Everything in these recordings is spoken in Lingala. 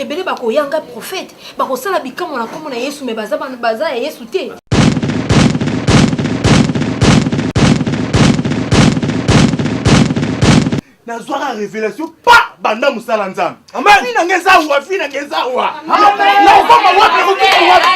ebele bakoya ngai profete bakosala bikamwa na nkombo na yesu me baza, baza ya yesu te nazwaka revelation pa banda mosala nzambe afi na nge zawa fi na nge zawa nakokoma wapi nakokoma wapi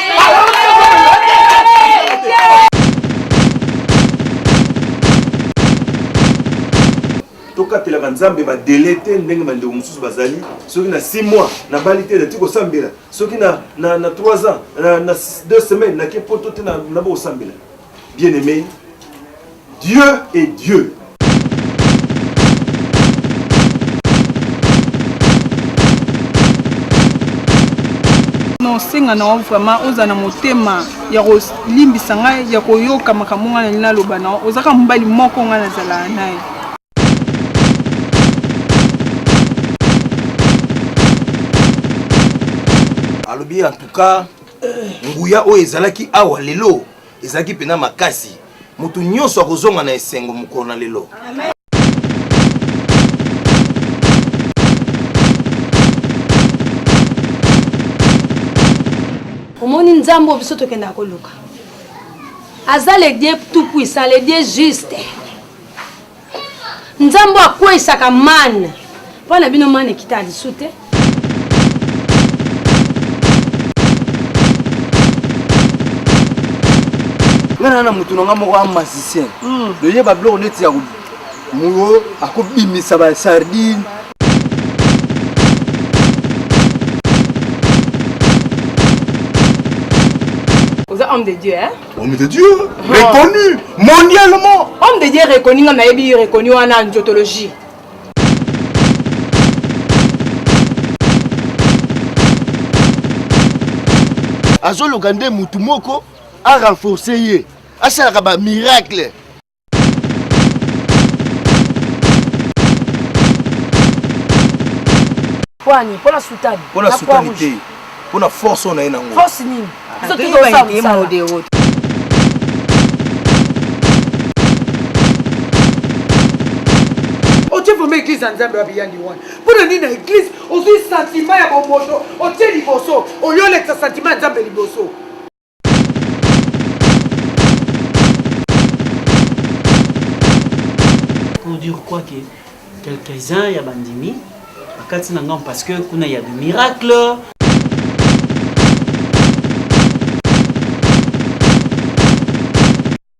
tokatelaka nzambe badele te ndenge bandeko mosusu bazali soki na 6 mois nabali te nati kosambela soki na, na, na 3 ans na, na 2 semaines nake poto te nabokosambela bien aimé Dieu est Dieu. kosenga na yo vraiment oza na motema ya kolimbisa ngai ya koyoka makambo ngai nalingi naloba na yo ozaka mobali moko ngai nazalaka na ye alobi en tout cas nguya oyo ezalaki awa lelo ezalaki mpenza makasi moto nyonso akozonga na esengo mokolo na lelo omoni nzambe oyo biso tokendaka koluka aza le dieu tout puissant le dieu juste nzambe oyo akweisaka mane mpo na bino mane ekitaka lisu te nga na na motu na nga moko a magicien hmm. loyeba biloko neti ya muyo akobimisa ba sardine oza homme de dieu hein? Homme de Dieu, oh. reconnu mondialement. Homme de Dieu reconnu, nga nayebi reconnu wana angiotologie. azoluka nde mutu moko a renforcer ye asalaka ba miracle pwani mpo na sutani mpo na sutani te mpo na force oyo na ye nango force nini ah, biso tozosala mosala otie vraimen eglise ya nzambe wapi yandi wana mpo na nini na eglise ozwi santima ya bomoto otie liboso oyo olekisa santima ya nzambe liboso pour dire quoi que quelques-uns ya bandimi bakati na ngambo parce que kuna ya de miracle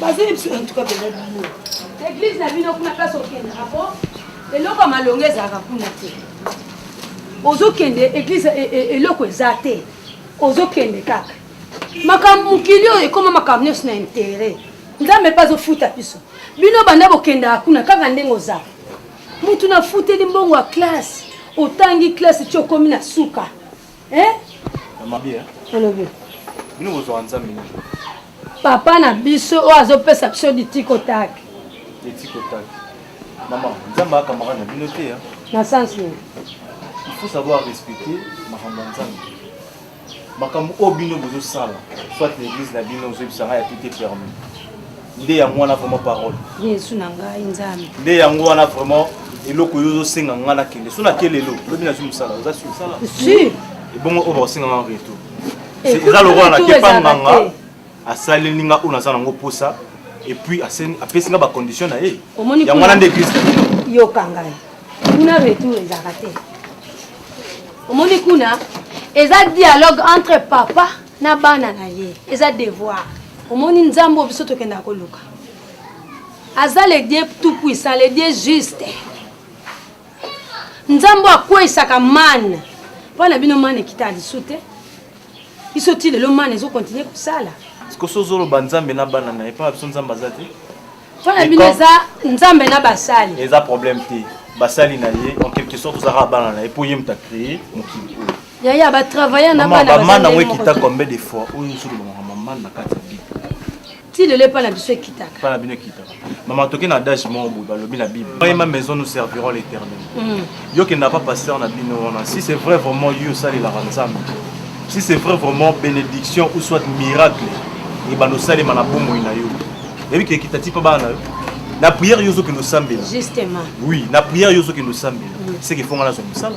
bazali biso en tout cas pena bino eglise na bino kuna place okende apo eloko ya malonga ezalaka kuna te ozokende eglise e, e, eloko eza te ozokende kaka makambo mokili oyo ekoma makambo nyonso na intere nzambe mpe azofuta biso bino banda bokendaka kuna kaka ndenge oza mutu nafuteli mbongo ya classe otangi classe ti okomi na suka Eh? Eh? papa na biso oyo azopesa biso litikotaki na sens nini il faut savoir respecter makambo ya nzambe makambo oyo bino bozosala soit na église na bino ozoyebisanga ya tout est permis nde yango wana vraiment parole yesu na ngai nzambe nde yango wana vraiment eloko yo ozosenga ngai nakende so nake lelo lobi nazwi mosala oza sur ebongo oyo bakosenga ngai en retour eh, eza lokola nakepa nganga asaleli nga oyo naza nango mposa epuis apesi nga bacondition na ye yango wana nde eglise yoka ngai kuna retour ezalaka te omoni kuna eza dialogue entre papa na bana na ye eza devoir omoni nzambe oyo biso tokendaka koluka aza le dieu tout puissant le dieu juste nzambe oyo akweisaka mane mpo na bino mane ekita lisu te biso ti lelo mane ezokontinue kosala sikoso ozoloba nzambe na bana na ye mpo na biso nzambe aza te mpo na bino eza nzambe na basali eza problème te basali na ye en quelque sorte ozaka bana na ye mpo ye moto acree mokili oyo Yaya ba travailler na bana. Maman na ngwe kita combien de fois oyo sulu maman maman na kati bible. Ti lelo epa na biso ekitaka. Epa na bino ekitaka. Maman toke na adage moko boye balobi na bible. Moi ma maison nous servirons l'éternel. Mm. Yo kenda pa pasteur na bino wana. Si c'est vrai vraiment yo sali la ranzambe. Si c'est vrai vraiment bénédiction ou soit miracle et ba losali mana bomo na yo. Ebi ke kitati pa bana yo. Na prière yo zo ke losambela. Justement. Oui, na prière yo zo ke losambela. Mm. C'est que fonga na zo musala.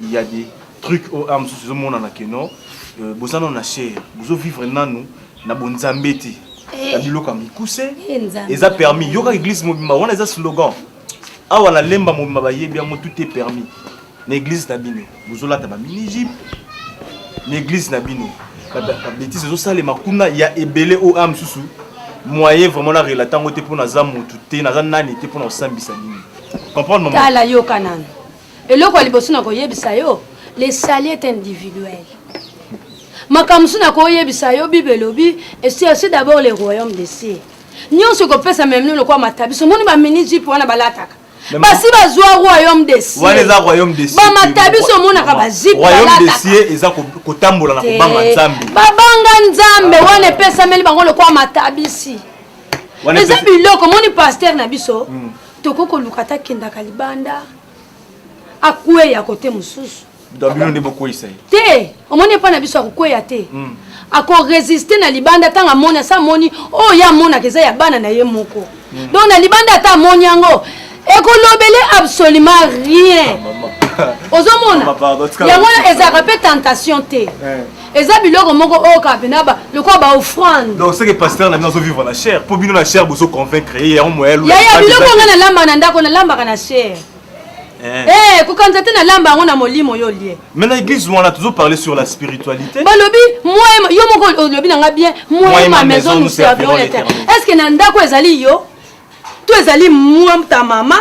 il ya des trucs oyo awa mosusu ezomonana que non euh, boza nano na chair bozovivre nanu na bonzambe te na eh. biloko ya mikuse eh, eza permis yoka eglise mobimba wana eza slogan awa na lemba mobimba bayebi yango tout est permis na eglise na bino bozolata bamini jipe na eglise na bino babetise ezosalema kuna ya ebele oyo a mosusu moyen vraiment na relate yango te mpo naza motu te naza nani te mpo na kosambisa bino comprendre tala yoka nanu Eloko ya liboso na koyebisa yo, le salut est individuel. Makambo mosusu na koyebisa yo, Bible elobi, cherchez d'abord le royaume des cieux. Nyonso ekopesa meme lokola matabiso. Moni ba mini jupe wana balataka. basi bazwa royaume de cieuxbamata biso omonaka bazipekotambola na kobanga nzambe babanga nzambe wana epesameli bango lokola matabisi eza biloko moni paster na biso hmm. toko koluka ata kendaka libanda akweya kote mosusu bino nde bokweyisa ye te omoni epai na biso akokweya te hmm. akoresiste na libanda ntango amoni asa amoni oyo oh, ye amonaka eza ya bana na ye moko hmm. donc na libanda ata amoni yango ekolobele absolument rien ah, ozomona yango ezalaka mpe tentation te eh. eza biloko moko oyo kaka mpena lokola ba offrande donc seke pasteur na bino azo vivre na chair mpo bino na chair bozo convaincre ye yango moya lo yaya biloko ngai nalamba na ndako nalambaka na chair eh. eh, kokanisa te nalamba yango na molimo yo lie mais na église wana tozo parler sur la spiritualité balobi moi yo moko olobi na ngai bien moi ma maison nous servirons l'éternel est ce que na ndako ezali yo to ezali moi ta mama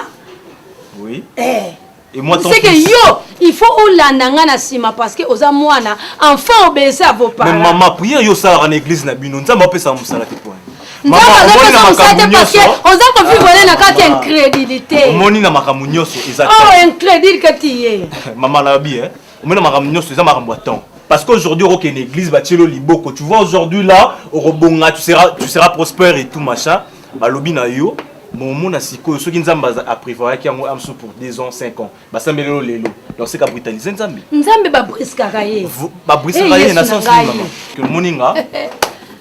oui eh. seke yo il faut olanda ngai na nsima parce que oza mwana enfant obese à vos parents mais mama prière yo osalaka na église na bino nzambe apesaka mosala te pwani nzambe azopesa mosala te parce que oza kovivre na kati ya incrédulité omoni na makambo nyonso eza oh incrédule que tu ye mama nalobi eh omoni na makambo nyonso eza makambo ya temps Parce qu'aujourd'hui, au Ken église, Bachelo Liboko, tu vois, aujourd'hui là, au Robonga, tu seras, tu seras prospère et tout, machin. balobi na yo momona sikoyo soki nzambe aprévoyaki yango amsu pour 2 ans 5 ans basambeli lelo lelo donc seka britalise nzambe nzambe babriskaka ye babriskaka ye na sens nini mama omoni nga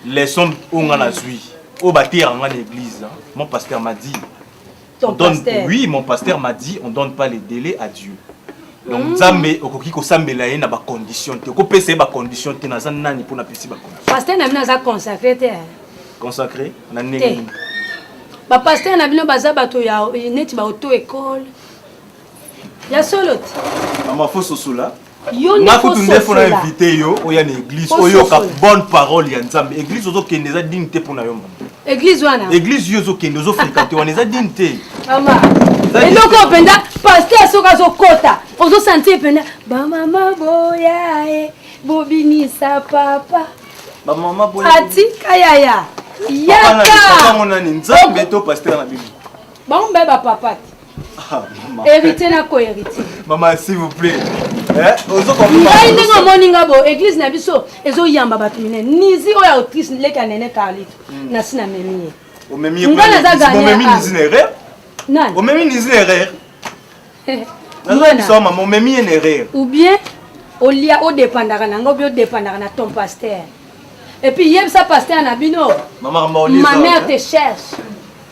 leçon oyo nga nazwi oyo bateyaka nga na église mon pasteur m'a dit Ton donne, pasteur. oui, mon pasteur m'a dit on donne pas les délais à Dieu. Donc mm. Nzambe okoki kosambela ye na ba conditions te. Okopesa ye ba conditions te naza nani mpo napesi ba conditions. Pasteur na bino aza consacré te. Consacré na ndenge nini? Ba pasteur na bino baza bato ya neti ba auto école. Ya solo te. Mama fo sosola. nga kutu ndefu na invité yo oya na église oyoka bonne parole ya nzambe église ozokende eza digne te mpo na yo mama église wana église yo ozokende ozofrekante wana eza digne te mama eloko oyo mpenza paster soki azokota ozosantie mpenza bamama boya e bobinisa papa bamama boya atika yaya yaka nzambe to paster na bino Bango mibale ba papa te. Ah, maman. Héritier na ko héritier. Maman, s'il vous plaît. Eh, ozo ko Ngai ndenge omoni nga bo église na biso ezo yamba bato minene. Nizi oyo autrice leka nene Carlito. Hmm. Na sina memi ye. Omemi ye. Ngai naza gagné. Omemi nizi na erreur. Nani? Omemi nizi na erreur. Nazo biso maman, omemi ye na erreur. Ou bien olia odepandaka na ngai obi odepandaka na ton pasteur epuis yebisa pasteur na bino ma mère te cherche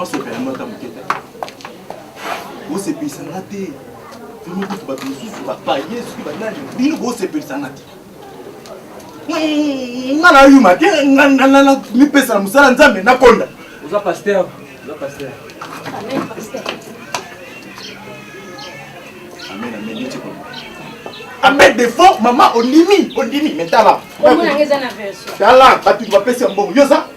osepela yango ata moke te osepelisa nga te bino kutu bato mosusu bapaye soki banani bino bosepelisa nga te nga nayuma te mipesa na mosala nzambe nakonda oza paster oza paster amen paster amen amen neti kolo amen defo mama ondimi ondimi me tala tala bato bapesi ya mbongo yo oza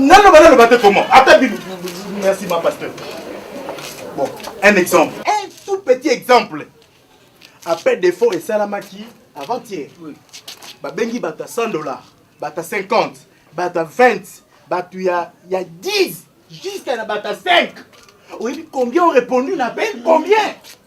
naloba naloba te comment ata bibi merci ma pasteur bon un exemple un tout petit exemple appel d'effort esalamaki avant hier babengi bato ya 100 dollars bato ya 50 bato ya 20 bato ya 10 jusqu'à na bato ya 5 oyebi combien ont répondu na appel combien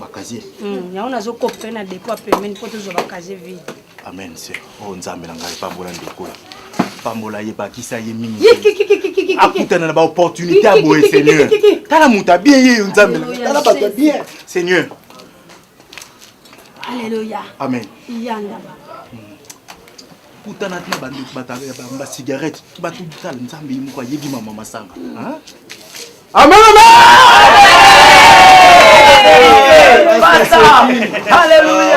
bakazie hmm, yango nazokope mpe na depo ya pembeni mpo tozwa bakazie vide amen se oyo oh, nzambe na ngai epambola ndeko oyo pambola ye bakisa ye mingi akutana na baopportunité ya boye seigneur tala moto abie ye yo nzambe tala bato ya bien seigneur alleluya amen yanga kutana na ba ndoki ba ba cigarette ba tout tal nzambe ye moko ayebi mama masanga hein amen amen Alléluia.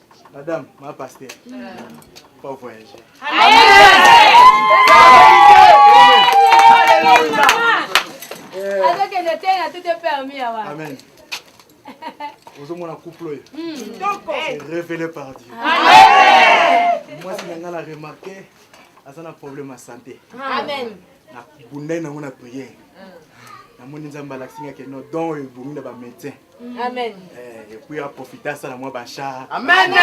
Madame, ma pasteur. Pas voyager. Alléluia. Azokende te na tout est permis awa. Amen. ozomona couple oyo hmm. révélé par dieu mwasi na ngai na remarke aza na problème ya santé na bundai nango na priere namoni nzambe alakisi nga keno don oyo ebongi na bamédecin amen eh, epuis aprofite asala mwa bachar amen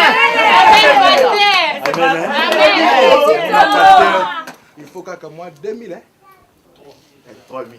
il faut kaka mwa 2000 3000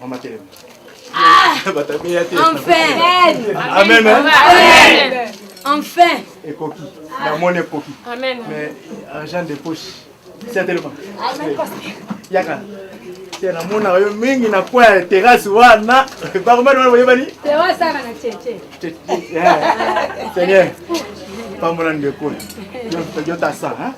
Mama telema. Ah! Enfin. Amen. Amen. Enfin. Ekoki. La monnaie ekoki. Amen. Mais argent de poche. C'est tellement. Amen. Yaka. te namonaka yo mingi na kwa ya terase wana bakomani wana boyebani seigneur pambola ndeko yo tasa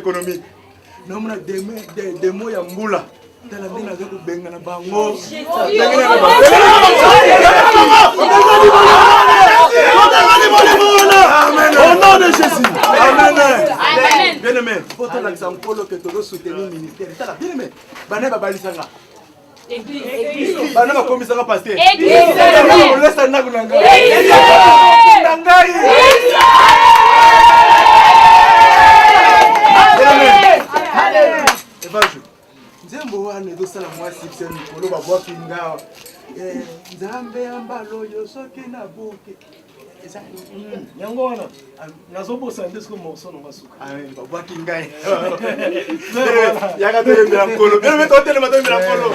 économique namona demo ya mbula tala nde naza kobengana bango bien aimé po tolakisa nkolo ke tozo soutenir ministère tala bien aimé bana babalisanga bana bakomisaka pasteolesa ndako na ngai na ngai nzembo wana ezosala mwa sikse mikolo babwaki ngawa eh, nzambe ya mbala oyo soki nabuki eza mm, yango wana nazobosana nde soki morso nanga suka ah, babwaki ngai yaka toyembela nkolo bebe totelema toyembela nkolo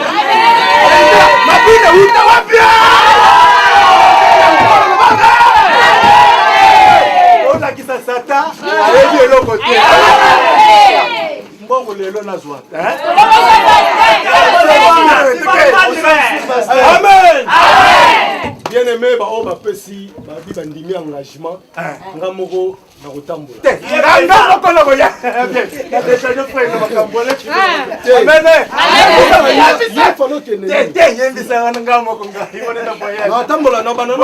mabina uta wapi olakisa sata ayebi eloko te mbongo lelo nazwa amen bien aimé baoyo bapesi babi bandimi engagement nga moko nakotambola natambola na banana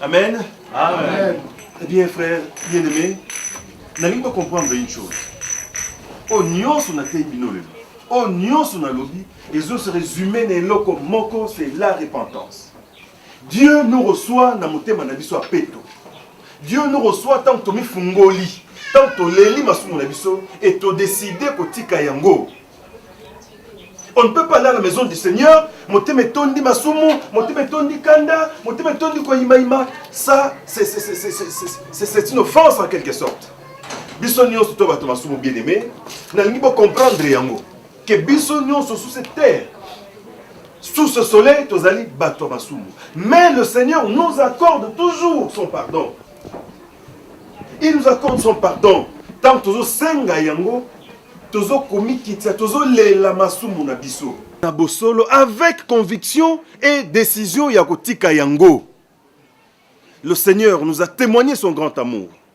Amen. Amen. Eh bien, frère, bien aimé, nalingi ko comprendre une chose. Oyo nyonso nateyi bino lelo, oyo nyonso nalobi, ezo se résumer na eloko moko, c'est la repentance. Dieu nous reçoit na motema na biso ya peto. Dieu nous reçoit ntango tomifungoli, ntango toleli masumu na biso et todeside kotika yango. On ne peut pas aller à la maison du Seigneur, motema etondi masumu, motema etondi kanda, motema etondi koyimayima. Ça, c'est une offense en quelque sorte. Biso nyonso to bato masumu bien-aimé, nalingi bocomprendre yango. que biso nyonso sous cette terre sous ce soleil tozali bato ya masumu mais le seigneur nous accorde toujours son pardon il nous accorde son pardon ntango tozosenga yango tozokomikitisa tozolela masumu na biso na bosolo avec conviction et décision ya kotika yango le seigneur nous a témoigné son grand amour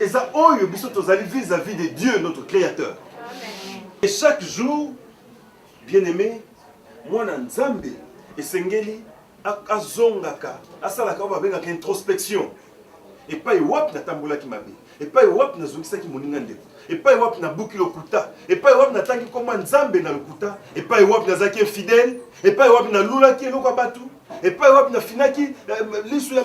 eza oyo biso tozali vis-à-vis de Dieu notre créateur et chaque jour bien aimé mwana nzambe esengeli azongaka asalaka oyo babengaka introspection epai wapi natambolaki mabe epai wapi nazongisaki moninga ndeko epai wapi nabuki lokuta epai wapi natangi nkoma nzambe na lokuta epai wapi nazalaki infidele epai wapi nalulaki eloko ya bato epai wapi nafinaki eh, lisu ya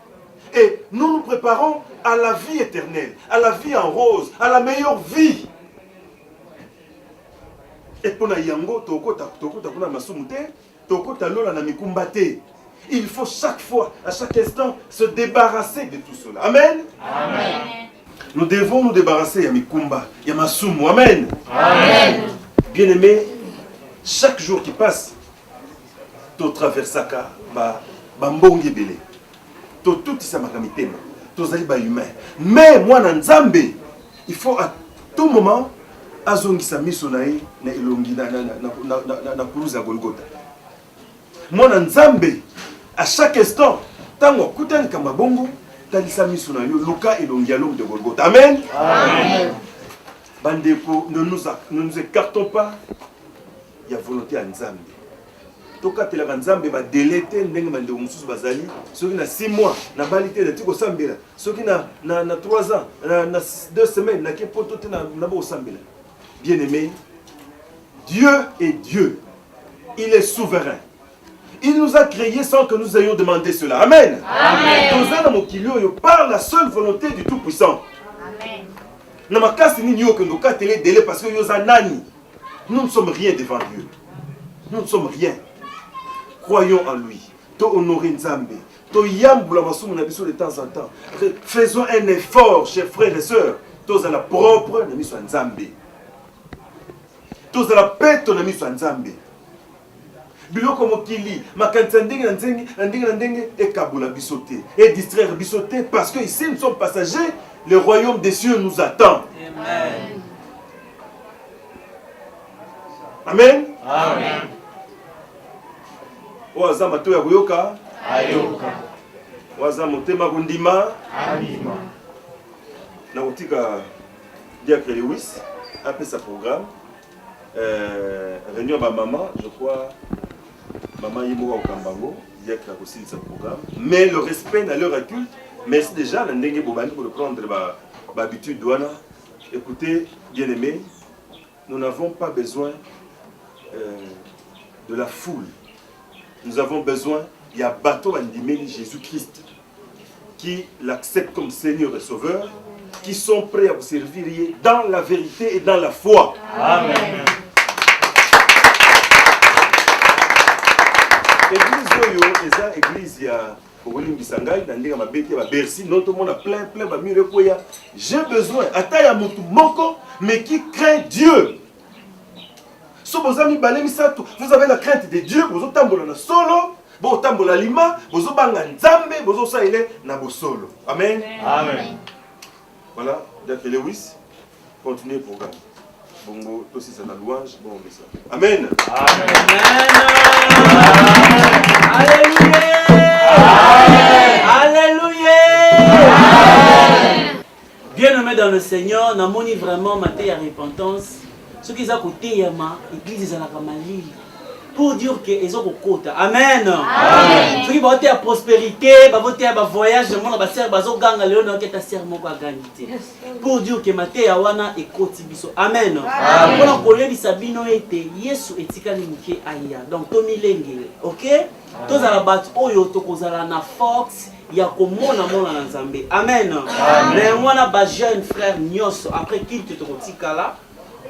et nous nous preparons à la vie éternelle, à la vie en rose, à la meilleure vie. Et pour na yango tokota tokota kuna masumu te, tokota lola na mikumba te. Il faut chaque fois, à chaque instant, se débarrasser de tout cela. Amen. Amen. Nous devons nous débarrasser ya mikumba, ya masumu. Amen. Amen. Bien-aimé, chaque jour qui passe, totraversaka bambonge ebele totutisamaka mitema tozali bahumain mais mwana nzambe il faut à tout moment azongisa miso na ye na elongi na kuruze ya golgota mwana nzambe à chaque instant ntango akutani likambo ya bongo talisa miso na yo luka elongi ya lome de golgota amen, amen. bandeko ne nous, ne nous écartons pas ya volonte ya nzambe tokatelaka nzambe badele te ndenge bandeko mosusu bazali soki na 6 mois nabali te nati kosambela soki na, na, na 3 ans na, na 2 semaines nake poto te naba kosambela bien aimé dieu est dieu il est souverain Il nous a créés sans que nous ayons demandé cela. Amen. Amen. par la seule volonté du Tout-Puissant. Amen. Na makasi nini yo kendo katele dele parce que yo za nani? Nous ne sommes rien devant Dieu. Nous ne sommes rien. Croyons en lui. To honorer Nzambe. To yambula masumu na biso de temps en temps. Faisons un effort, chers frères et sœurs. Tozala propre na miso ya Nzambe. Tozala peto na miso ya Nzambe. Biloko ya mokili, makanisi ya ndenge na ndenge na ndenge na ndenge ekabola biso te, e distraire biso te parce que ici nous sommes passagers, le royaume des cieux nous attend. Amen. Amen. Amen. Oyo aza mato ya koyoka ayoka, oyo aza motema kondima andima. Nakotika Diacre Lewis apesa programme Euh, réunion ya bamama je crois mama ye moko akokamba yango diacre akosilisa programme mais le respect na leur aculte merci déjà na ndenge bobandi koreprendre bahabitude ba wana écoutez bien aimé nous n'avons pas besoin euh, de la foule nous avons besoin ya bato bandimeli jésus christ qui l'acceptent comme Seigneur et Sauveur, qui sont prêts à vous servir dans la vérité et dans la foi. Amen. Église oyo eza église ya okolimbisa ngai na ndenge mabe te babersi no tomona plein plein bamire ekweya j'ai besoin ata ya motu moko mais qui craint dieu so boza mibale misato vous avez la crainte de dieu bozotambola na solo botambola lima bozobanga nzambe bozosalela na bosolo amen amen voilà donc lewis continue le programme bongo tosisa na louange bon mesa amen amen, amen. amen. Bien aimé dans le Seigneur, namoni vraiment mateya repentance soki eza koteyama eglise ezalaka malili pour dire que ezo kokota amen soki baoteya prospérité baboteya bavoyage namona basere bazoganga lelo naoketa sere moko agangi te pour dire que mateya wana ekoti biso amen mpona koyebisa bino ete yesu etikali moke aya donc tomilengele ok tozala bato oyo tokozala na force ya komona mona na nzambe amen na yango wana bajeune frère nyonso après kilte tokotikala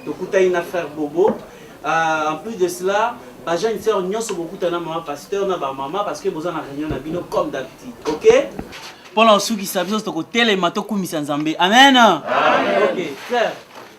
tokutani na frère bobo euh, en plus de cela bajeune sœur nyonso bokutana mama pasteur na bamama parce que boza na réunion na bino comme d'habitude ok mpo na kosukisa biso tokotelema tokumisa nzambe amen, amen. ok frère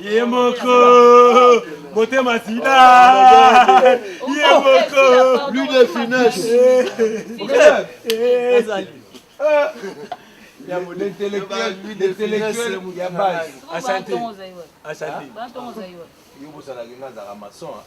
ye moko motema sida ye moko plus de finesse ya l'intellectuel l'intellectuel ya base asante asante yo bosalaki nga azalaka maçon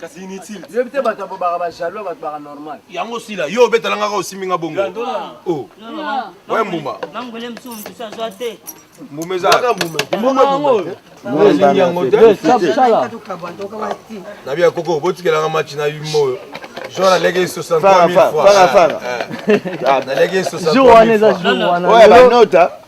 kasi inutile yo te bato babobaka bajaloux ya bato baka normal yango osila yo obetala ngaka osimbi nga bongo oh. we mbuma mbuma ezaelingi yango na bia koko botikelanga match na yuma oyo jour aleki 63000 fois naleki 63000 fois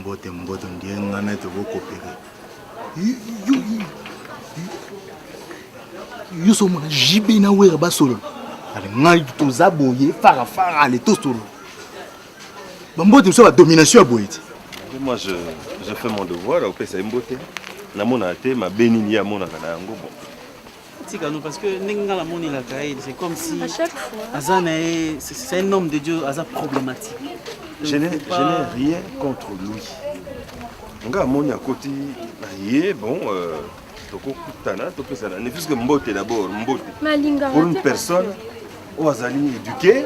Mbote mbote ndiye nga na ete bokopere. Yo so mona JB na Wera basolo. Ale ngai toza boye fara fara ale tosolo. Bambote biso ba domination ya boye te. Moi je je fais mon devoir opesa ye mbote. Namona te mabe nini ye amonaka na yango bon. tika no parce que ndenge nga na moni la kaye c'est comme si à chaque fois aza na ye c'est un homme de Dieu aza problématique je n'ai pas... je n'ai rien contre lui nga amoni akoti na ye bon euh, tokokutana topesana ne puisque mbote d'abord mbote pour une personne oyo azali éduqué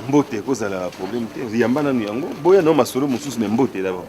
mbote ekozala problème te yamba nanu yango boya nao masolo mosusu me mbote d'abord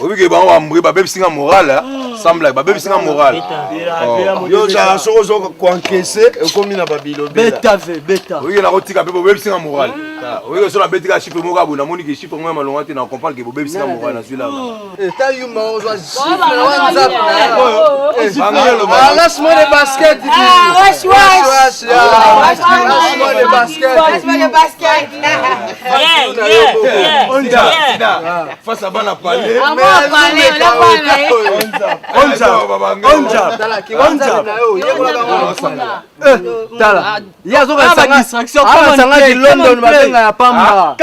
oyebi ke bango bambri babebisi nga moral hmm. semble babebisi nga moral oh. yo ozala soki ozo koankese ekomi na babilobelaoyike nakotika mpe bobebisi nga moral hmm. ah, oyike so nabeti ka chiffre moko aboye namoni ke chiffre moko ya malonga te na comprendre ke bobebisi nga moral nazwi lana basket face à bana palais eh, tala ye azokasangaki london babenga ya pamba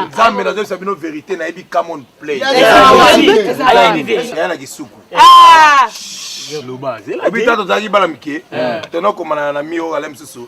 nzambe nazoyebisa bino verité nayebi camon play na kisuku obita tozalaki bana mike eh. tonokomana na mio ale mosusu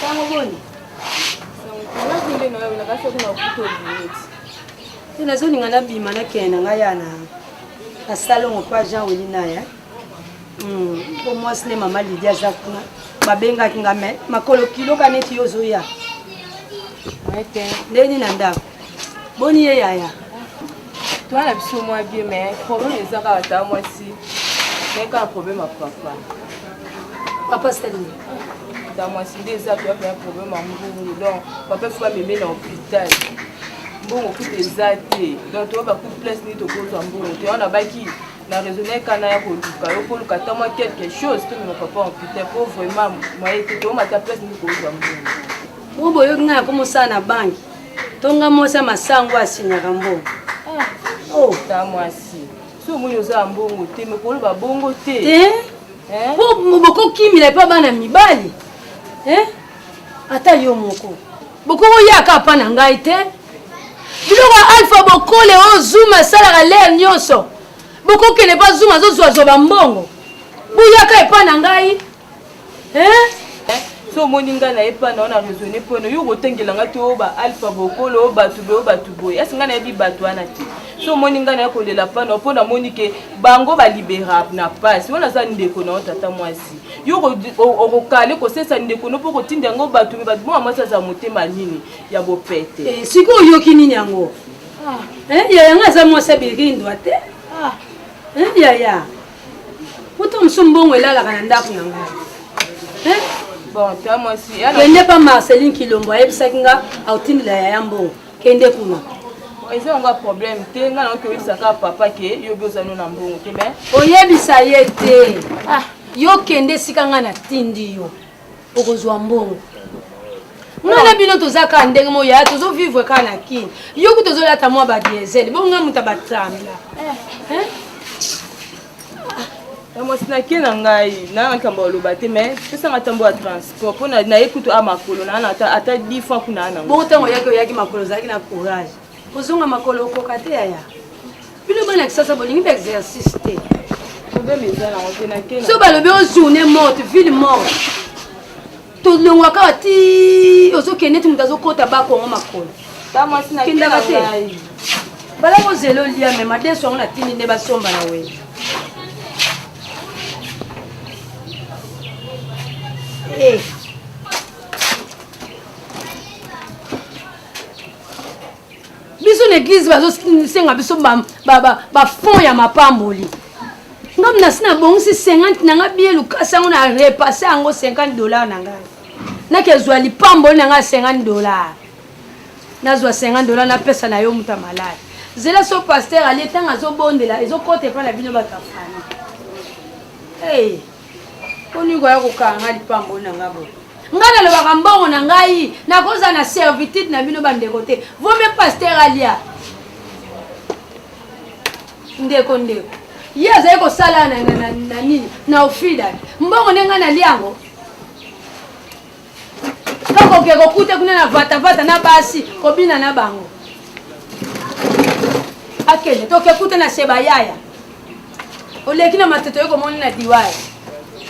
Sango boni? te nazolinga nabima nakende na ngai yana na salongo mpo jean weli na ye mpo hmm, mwasi ne mama lidi aza kuna babengaki nga me makolo kiloka neti yo ozoya ndenge nini na ndako Boni ye yaya Toi na biso mwa bien mais problème eza kaka ta mwasi mais kaka problème ya papa papa sali ta mwasi nde eza toya pena problème ya mbungu donc papa fo bameme na hôpital mbongo kutu eza te donc toyo bakutu place nini tokozwa mbongo te wana baki na raisonne kana ya koluka yo koluka ta mwa quelque chose tomema papa ya hôpital po vraiment moye te toyomata place nini kozwa mbongo bongo boyoki ngai nakomosala na banki tonga mwasi ya masango asinyaka mbongo ah. oh. ta mwasi so omoni oza ya mbongo te mekoloba bongo te eh? Eh? po bokokimila epa bana mibali eh? ata yo moko bokokoyaka apa na ngai te biloko ya alpha bokole oyo zuma esalaka lere nyonso bokokende mpa zuma azozwazwa bambongo boyaka epa na ngai Eh? so omoni ngai na ye mpa na yo na raisonne mpo na yo okotengela ngai to ba alpha bokolo bato boye bato boye asi ngai nayebi bato wana te so omoni ngai na ye kolela mpa na yo mpo namoni ke bango balibera na mpasi wana aza ndeko na yo tata mwasi yo okokale kosesa ndeko no mpo okotinda yango bato me bato bonga mwasi aza motema nini ya bopete eh, siki oyoki nini yango ah. eh, yaya ngai aza mwasi abirindwa te ah. eh, yaya Poto mosusu mbongo elalaka na ndako na ngai. Eh? Bon, toi moi aussi. Kende pa Marceline Kilombo ayebisaki nga autindela yaya mbongo. Kende kuna. eza yango ya problème te ngai nango toyebisaka papa ke yobi oza no na mbongo te mai oyebisa ye te ah. yo kende esika ngai natindi yo okozwa mbongo nga na bino toza kaka ndenge moko yaya tozovivre kaka na kini yo kuta ozolata mwa badiesel bongo nga moto abatambla na mwasi nake na ngai naa makambo ya loba te mais pesa matambo ya transport mpo naye kutu a makolo naana ata di fois kuna ana bongo ntango oyaki oyaki makolo ozalaki na courage kozonga makolo okoka te yaya bino bana kisasa bolingi ba exercice te so balobi o journée morte ville morte tolongwa kaka ti ozokende ti moto azokota bakongo makolo kendaka te bala kozela olia me madeso yango natindi nde basomba na wele hey. Eh. biso na eglize bazosenga biso bafond ya mapamboli nga mnasi nabongisi 50 na nga bie lukasi yango na repasse yango 50 dollar na ngai nakezwa lipamboli na ngai ya 50 dollar nazwa 50 dollar napesa na yo moto ya malade zela so paster alie ntango azobondela ezokota epai na bino bato ya fana hey. Olingi koya kokanga ngai lipamboli na ngai boye? ngai nalobaka mbongo na ngai nakozala na servitude na bino bandeko te vome paster alia ndeko ndeko ye azali kosala na nini na ofida mbongo nde ngai nalia yango Kaka oke kokute kuna na vata vata na basi kobina na bango. Akende toke kute na seba yaya. Oleki na matoto yo komoni na diwaya.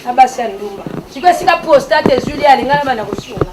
Na basi ya ndumba. Siko esika prostate ezuli ya lingana bana kosunga.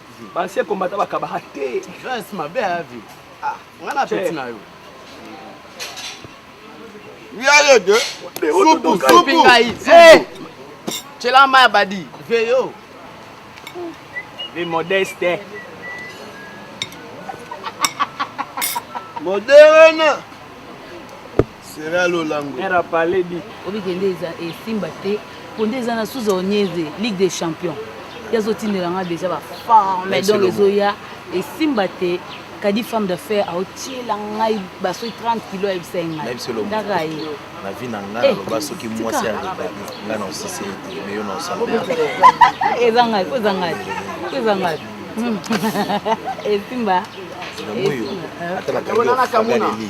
ba ancien combattant bakabaka te grace mabe ya vie ah nga na peti na yo yale de supu supu ngai cela ma badi veyo ve modeste moderne sera lolango era parler dit obike nde eza esimba te mpo nde eza na suza onyeze ligue des champions ye azotindela nga déjà baforme donc ezoya esimba te kadi femme d'affaire aotiela ngai basoki 30 kilo ayebisa ye ngaidaka ye na vie na ngai naloba soki mwasi ya rebali ngai na osisi ye te meyo na osala eza ngai po eza ngai po eza ngai esimba ata nakangi ofaleli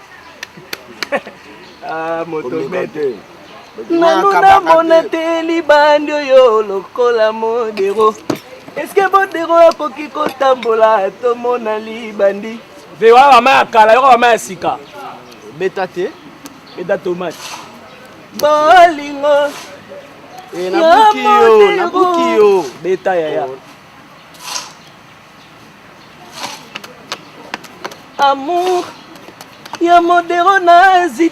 ah, motobete nanu namona te libandi oyo lokola modero eske modero akoki kotambola tomona libandi vewa bama ya kala yoko bama ya sika beta te beta tomate bolingo eh, nabuki yo nabuki yo beta yaya oh. amour ya modero nazi